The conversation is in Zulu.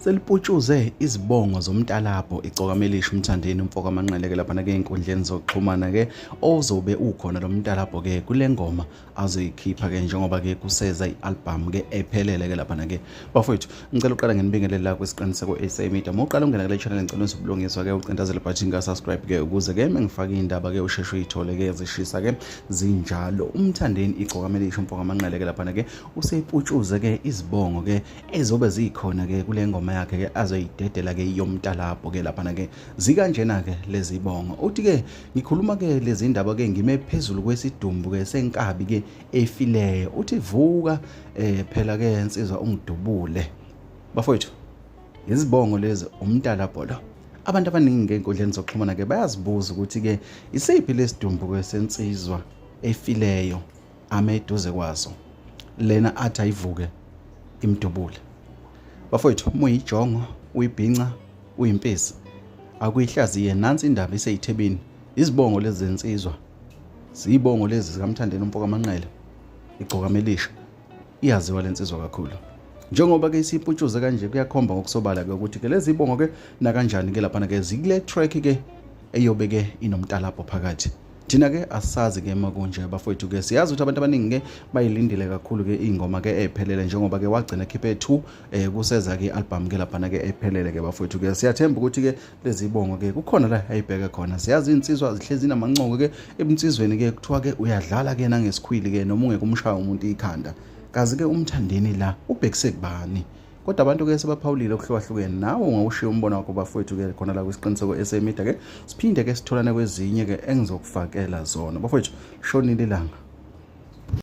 seliputshuze izibongo zomntalabho icokamelisha umthandeni umfoko amanqeleke laphana ke enkundleni zokuxhumana ke ozobe ukhona lo mntalabho ke kule ngoma azoyikhipha ke njengoba ke kuseza i-album ke ephelele ke laphana ke bafowethu ngicela uqala ngenibingelele la kwisiqiniseko sa media uma uqala ungena kule channel ngicela nise ubulungiswa-ke ucindazele bhathini ka-subscribe ke ukuze-ke mengifake iy'ndaba-ke usheshe uyithole-ke zishisa-ke zinjalo umthandeni igcokamele isho mfoka amanqele-ke laphana-ke useyiputshuze-ke izibongo-ke ezobe zikhona-ke kule ngoma yakhe-ke azoyidedela-ke yomtalabho-ke laphana-ke zikanjena-ke lezi bongo uthi-ke ngikhuluma-ke lezi ndaba-ke ngime phezulu kwesidumbu-ke senkabi-ke efileyo uthi vuka eh phela ke insizwa ungidubule bafowethu izibongo lezi umntala bholo abantu abaningi ngeenkundleni zokuxhumana ke bayazibuza ukuthi ke isiphi lesidumbu kwesensizwa efileyo ame eduze kwazo lena athi ayivuke imdubule bafowethu uma uyijongo uyibhinca uyimpisi akuyihlaziye nansi indaba iseyithebini izibongo lezi zensizwa Siyibongo lezi zikaMthandeni umfoka Manqele. Igcoka melisha. Iyaziwa lensizwa kakhulu. Njengoba ke isiputshuze kanje kuyakhomba ngokusobala ke ukuthi ke lezi ibongo ke nakanjani ke lapha ke zikule track ke eyobe ke inomtalabho phakathi. Thina ke asazi ke makunje bafowethu ke siyazi ukuthi abantu abaningi ke bayilindile kakhulu ke ingoma ke ephelele njengoba ke wagcina khiphe 2 eh kuseza ke album ke lapha ke ephelele ke bafowethu ke siyathemba ukuthi ke lezibongo ke kukhona la ayibheke khona siyazi insizwa zihlezi namancongo ke ebunsizweni ke kuthiwa ke uyadlala ke nangesikhwili ke noma ungeke umshaya umuntu ikhanda kazi ke umthandeni la ubhekise kubani kodwa abantu ke sebaphawulile okuhlukahlukene nawe ungawushiya umbono wakho bafowethu ke khona la kwisiqiniseko esemida ke siphinde ke sitholane kwezinye ke engizokufakela zona bafowethu shonile ilanga